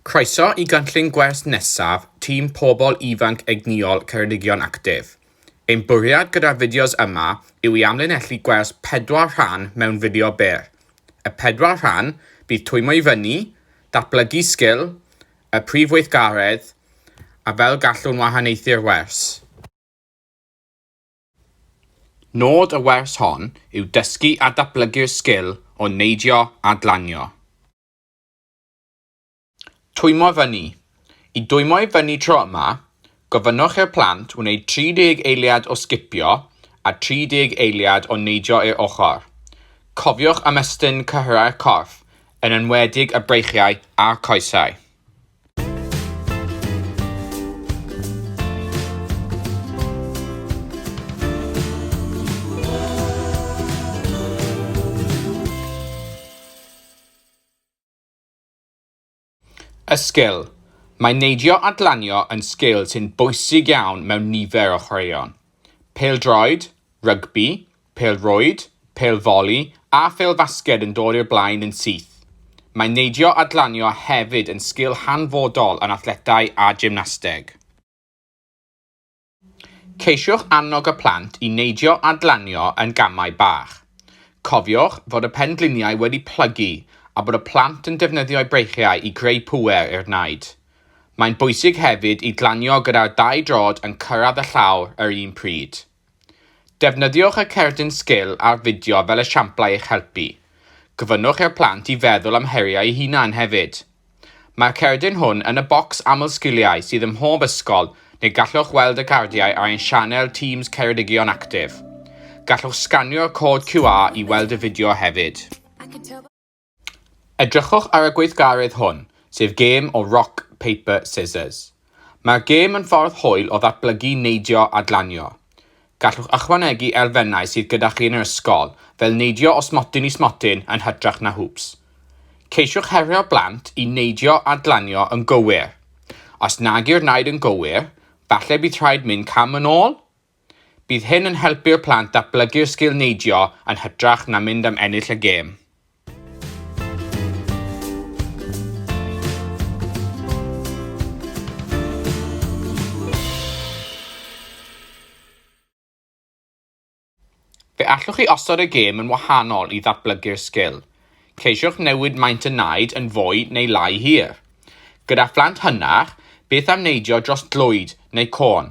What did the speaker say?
Croeso i gynllun gwers nesaf tîm Pobl Ifanc Egnïol Ceredigion Actif. Ein bwriad gyda'r fideos yma yw i amlinellu gwers pedwar rhan mewn fideo byr. Y pedwar rhan bydd twymio i fyny, datblygu sgil, y prif weithgaredd, a fel gallwn wahaniaethu'r wers. Nod y wers hon yw dysgu a datblygu'r sgil o neidio a glanio. Twymo i fyny. I dwymo i fyny tro yma, gofynnwch i'r plant wneud 30 eiliad o sgipio a 30 eiliad o neidio i'r ochr. Cofiwch ymestyn cyhyrau'r corff, yn enwedig y breichiau a'r coesau. Y sgil, Mae neidio a glanio yn sgil sy'n bwysig iawn mewn nifer o chwaraeon. Pêl-droed, rygbi, pêl-rwyd, pêl-foli a phêl-fasged yn dod i'r blaen yn syth. Mae neidio a glanio hefyd yn sgil hanfodol yn athletau a gymnasteg. Ceisiwch annog y plant i neidio a glanio yn gamau bach. Cofiwch fod y pengliniau wedi plygu a bod y plant yn defnyddio'u breichiau i greu pŵer i'r naid. Mae'n bwysig hefyd i glanio gyda'r dau droed yn cyrraedd y llawr yr un pryd. Defnyddiwch y cerdyn sgil a'r fideo fel esiamplau i'ch helpu. Gofynnwch i'r plant i feddwl am heriau eu hunain hefyd. Mae'r cerdyn hwn yn y bocs aml sgiliau sydd ym mhob ysgol neu gallwch weld y cardiau ar ein sianel Teams Ceredigion Active. Gallwch sganio'r cod QR i weld y fideo hefyd. Edrychwch ar y gweithgaredd hwn, sef gêm o Rock, Paper, Scissors. Mae'r gêm yn ffordd hwyl o ddatblygu neidio a glanio. Gallwch ychwanegu elfennau sydd gyda chi yn yr ysgol, fel neidio o smotyn i smotyn yn hytrach na hwps. Ceisiwch herio'r blant i neidio a glanio yn gywir. Os nag yw'r naid yn gywir, falle bydd rhaid mynd cam yn ôl? Bydd hyn yn helpu'r plant datblygu'r sgil neidio yn hytrach na mynd am ennill y gêm. Fe allwch chi osod y gêm yn wahanol i ddatblygu'r sgil. Ceisiwch newid maint y naid yn fwy neu lai hir. Gyda phlant hynach, beth am neidio dros glwyd neu côn?